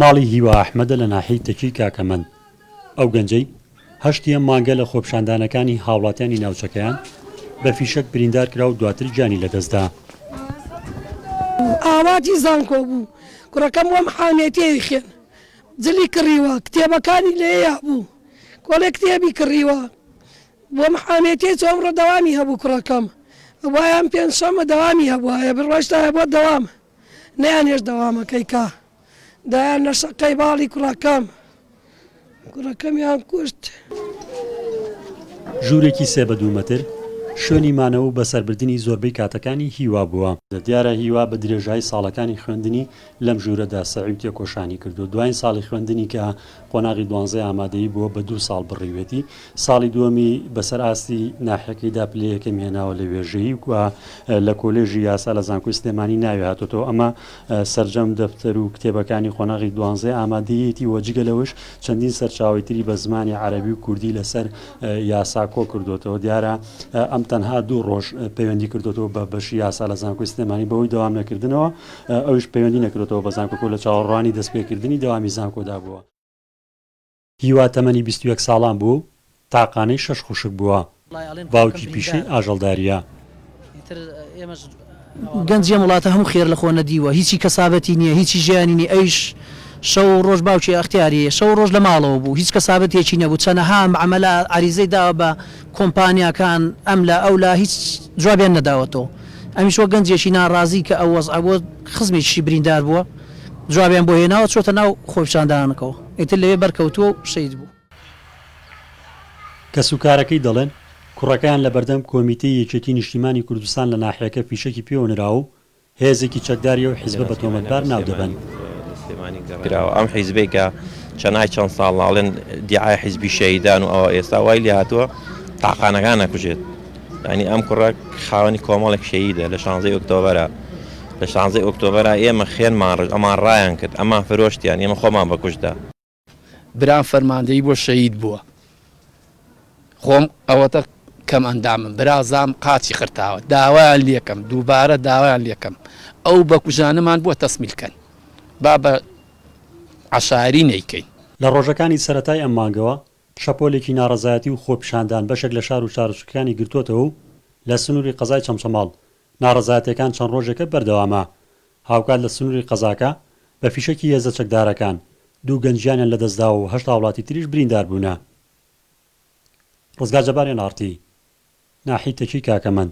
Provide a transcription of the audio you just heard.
ماڵی هیوا ئەحمەدە لە ناحیەی تەکی کاکەمەند، ئەو گەنجەی هەشتی ئەم مانگە لە خۆپیشاندانەکانی هاوڵاتیانی ناوچەکەیان بە فیشەک بریندار کرا و دواتر گیانی لەدەستدا. ئاواتی زانکۆ بوو، کوڕەکەم وەم حانێتیەی خوێن جلی کڕیوە، کتێبەکانی لێیا بوو، کۆلێک کتێبی کڕیوە، بۆم حامێتیە چۆ ئەمڕۆ دەوامی هەبوو کوڕەکەم بوایە ئەم پێنج شەمە دەوامی هەبوایە بڕۆشتایە بۆ دەوام نەیان هێشت دەوامەکەی کا دایان لە شەقەی باڵی کوڕەکەم کوڕەکەمیان کوشت. ژوورێکی سێ بە دوو مەتر شوێنی مانەوە و بەسەربردنی زۆربەی کاتەکانی هیوا بووە. دیارە هیوا بە درێژایی ساڵەکانی خوێندنی لەم ژوورەدا سەعیم تێکۆشانی کردووە دواین ساڵی خوێندنی کە قۆناغی دوانزەی ئامادەیی بووە بە دوو ساڵ بڕیوێتی، ساڵی دووەمی بەسەر ئاستی ناحیەکەیدا پلەی یەکەمی هێناوە لە وێژەیی و لە کۆلێژی یاسا لە زانکۆی سلێمانی ناوی هاتۆتەوە ئەمە سەرجەم دەفتەر و کتێبەکانی قۆناغی دوانزەی ئامادەییەتی و جگە لەوەش چەندین سەرچاوەی تری بە زمانی عەرەبی و کوردی لەسەر یاسا کۆ کردووەتەوە دیارە ئەم تەنها دوو ڕۆژ پەیوەندی کردووەتەوە بە بەشی یاسا لە زانکۆی سلێمانی بەهۆی دەوام نەکردنەوە ئەویش پەیوەندی نەکردۆتەوە بە زانکۆ و لە چاوەڕوانی دەستپێکردنی دەوامی زانکۆدا بووە. هیوا تەمەنی بیست و یەک ساڵان بوو، تاقانەی شەش خوشک بووە، باوکی پیشەی ئاژەڵدارییە. گەنجی ئەم وڵاتە هەموو خێر لە خۆ نەدیوە، هیچی کەسابەتی نییە، هیچی ژیانی نییە، ئەویش شەو و ڕۆژ باوکی ئەختیاریی، شەو و ڕۆژ لە ماڵەوە بوو، هیچ کەسابەتێکی نەبوو، چەنەها مەعەمەلە عەریزەی داوە بە، کۆمپانیاکان ئەم لا ئەو لا هیچ جوابیان نەداوەتەوە ئەمیش وەک گەنجێکی ناڕازی کە ئەو وەزعە بۆ خزمێکیشی بریندار بووە جوابیان بۆ هێناوە چۆتە ناو خۆپیشاندانەکەوە ئیتر لەوێ بەرکەوتووە و شەید بوو. کەسوکارەکەی دەڵێن، کوڕەکەیان لەبەردەم کۆمیتەی یەکێتی نیشتیمانی کوردستان لە ناحیەکە فیشەکی پێوە نراوە و هێزێکی چەکداری ئەو حیزبە بە تۆمەتبار ناو دەبەن. کراوە ئەم حیزبەی کە چەند ئای چەند ساڵ ئەڵێن دیعای حیزبی شەهیدان و ئەوە ئێستا وای لێ هاتووە تاقانەکان ئەکوژێت یعنی ئەم کوڕە خاوەنی کۆمەڵێک شەهیدە لە شانزەی ئۆکتۆبەرە لە شانزەی ئۆکتۆبەرە ئێمە خێنمان ڕژ ئەمان ڕایان کرد ئەمان فرۆشتیان ئێمە خۆمان بەکوشتدا برام فەرماندەیی بۆ شەهید بووە خۆم ئەوەتە کەم ئەندامم برازام قاچی قرتاوە داوایان لەکەم دووبارە داوایان لەکەم ئەو بەکوژانەمان بۆ تەسمیلکەن با بە عشاری نەیکەین لە ڕۆژەکانی سەرەتای ئەم مانگەوە شەپۆلێکی ناڕەزایەتی و خۆپیشاندان بەشێک لە شار و شارۆچکەکانی گرتووەتەوە و لە سنووری قەزای چەمچەماڵ ناڕەزایەتیەکان چەند ڕۆژێکە بەردەوامە، هاوکات لە سنوری قەزاکە بە فیشەکی هێزە چەکدارەکان دوو گەنج گیانیان لەدەستداوە و هەشت هاوڵاتی تریش بریندار بوونە. ڕزگار جەبار، ئێن ئاڕ تی، ناحیەی تەکیی کاکەمەند.